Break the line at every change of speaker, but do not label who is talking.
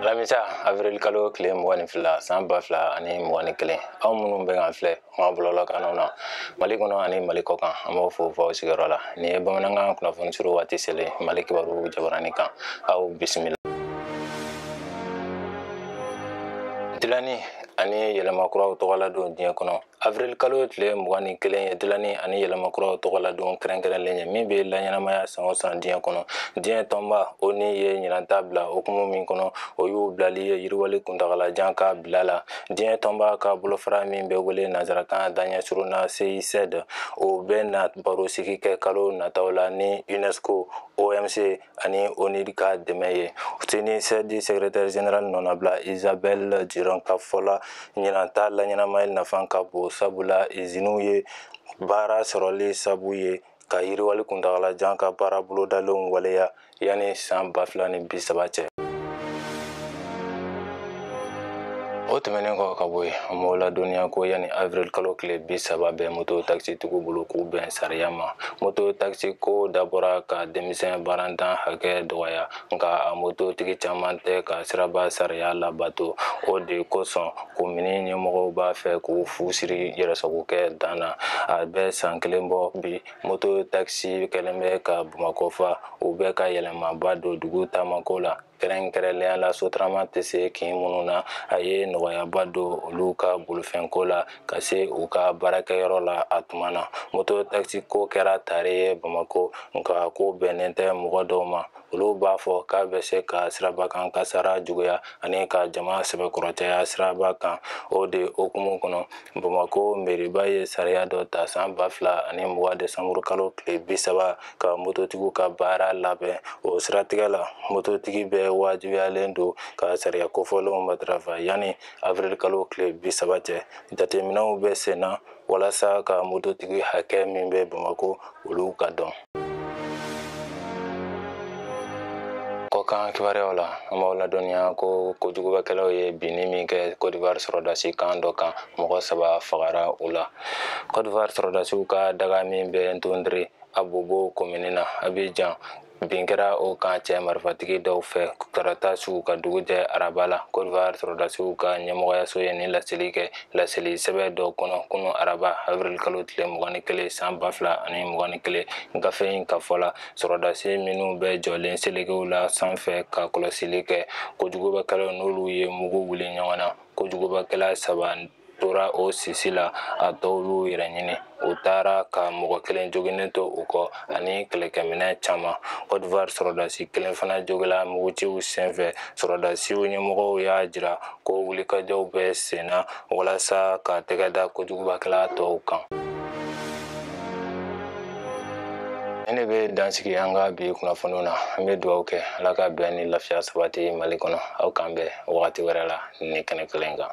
alamisa avril kalo tile mugan ni fila san ba fila ani mugan ni kelen aw minnu bɛ k'an filɛ ma bɔlɔlɔ kanw na mali kɔnɔ ani mali kɔkan an b'aw fo f'aw sigiyɔrɔ la nin ye bamanankan kunnafoni surun waati selen mali kibaru jabaranin kan aw bisimila dilanni ani yɛlɛma kuraw tɔgɔladon diɲɛ kɔnɔ Avril kalo tile mugan ni kelen ye dilanni ani yɛlɛmakuraw tɔgɔladon kɛrɛnkɛrɛnlen ye min bɛ laɲɛnamaya san o san diɲɛ kɔnɔ diɲɛ tɔnba ONU ye ɲinan ta bila hukumu min kɔnɔ o y'u bilali ye yiriwali kuntagalajan ka bila la diɲɛ tɔnba ka bolofara min bɛ wele nansarakan daɲɛsurun na CNUCED o bɛ na barosigi kɛ kalo nataw la ni UNESCO OMC ani ONUDI ka dɛmɛ ye CNUCED sɛgɛrɛtɛri zenerali nɔnabila Isabelle Durant ka fɔ la ɲinan ta laɲɛnamayali nafan ka bon sabula iziniw ye baara sɔrɔli sabu ye ka yiriwali kuntagalajan ka baara bolodalenw waleya yanni san ba fila ni bi saba cɛ o tɛmɛnen kɔ ka bɔ yen an b'aw ladɔnniya ko yanni avril kalo tile bi saba bɛ moto takisitigiw bolo k'u bɛn sariya ma moto takisi ko dabɔra ka denmisɛn baarantan hakɛ dɔgɔya nka a mototigi caman tɛ ka siraba sariya labato o de kosɔn komini ɲɛmɔgɔw b'a fɛ k'u fu siri yɛrɛsagokɛ dan na a bɛ san kelen bɔ bi moto takisi kɛlen bɛ ka bamakɔ fa u bɛ ka yɛlɛmaba don dugu taamako la kɛrɛnkɛrɛnlenya la sotarama tɛ se kin minnu na a ye nɔgɔyaba don olu ka bolofɛnko la ka se u ka baarakɛyɔrɔ la a tuma na moto takisiko kɛra tare ye bamako nka ko bɛnnen tɛ mɔgɔ dɔw ma olu b'a fɔ k'a bɛ se ka siraba kan kasara juguya ani ka jama sɛbɛkɔrɔ caya siraba kan o de hukumu kɔnɔ bamako mɛriba ye sariya dɔ ta san ba fila ani mugan desanburukalo tile bi saba ka mototigiw ka baara labɛn o siratigɛ la mototigi bɛɛ wajibiyalen don ka sariya kofɔlenw matarafa yanni avril kalo tile bi saba cɛ jateminɛw bɛ sen na walasa ka mototigi hakɛ min bɛ bamako olu ka dɔn kɔkan kibaruyaw la an b'aw ladɔnniya ko kojugubakɛlaw ye binni min kɛ Côte d'Ivoire sɔrɔdasi kan dɔ kan mɔgɔ saba fagara u la Côte d'Ivoire sɔrɔdasiw ka daga min bɛ N'Dotré Abobo komini na Abidjan bin kɛra o kan cɛ marifatigi dɔw fɛ tarata su ka dugu jɛ araba la Côte d'Ivoire sɔrɔdasiw ka ɲɛmɔgɔyaso ye nin laseli kɛ laseli sɛbɛn dɔ kɔnɔ kunu araba avril kalo tile mugan ni kelen san ba fila ani mugan ni kelen gafe in ka fɔ la sɔrɔdasi minnu bɛ jɔlen selekew la sanfɛ ka kɔlɔsili kɛ kojugubakɛlaw n'olu ye mugu wuli ɲɔgɔn na kojugubakɛla saba tora o sisi la a tɔw y'u yɛrɛ ɲini u taara ka mɔgɔ kelen joginnen to u kɔ ani kɛlɛkɛminɛ caman kɔdivar sɔrɔdasi kelen fana jogila mugutiw senfɛ sɔrɔdasiw ɲɛmɔgɔw y'a jira ko wulikajɔw bɛ senna walasa ka tɛgɛ da kojugubakɛla tɔw kan nin de bɛ dansigi an ka bi kunnafoniw na an bɛ dugawu kɛ ala ka bɛn ni lafiya sabati mali kɔnɔ aw k'an bɛn wagati wɛrɛ la nin kɛnɛ kelen kan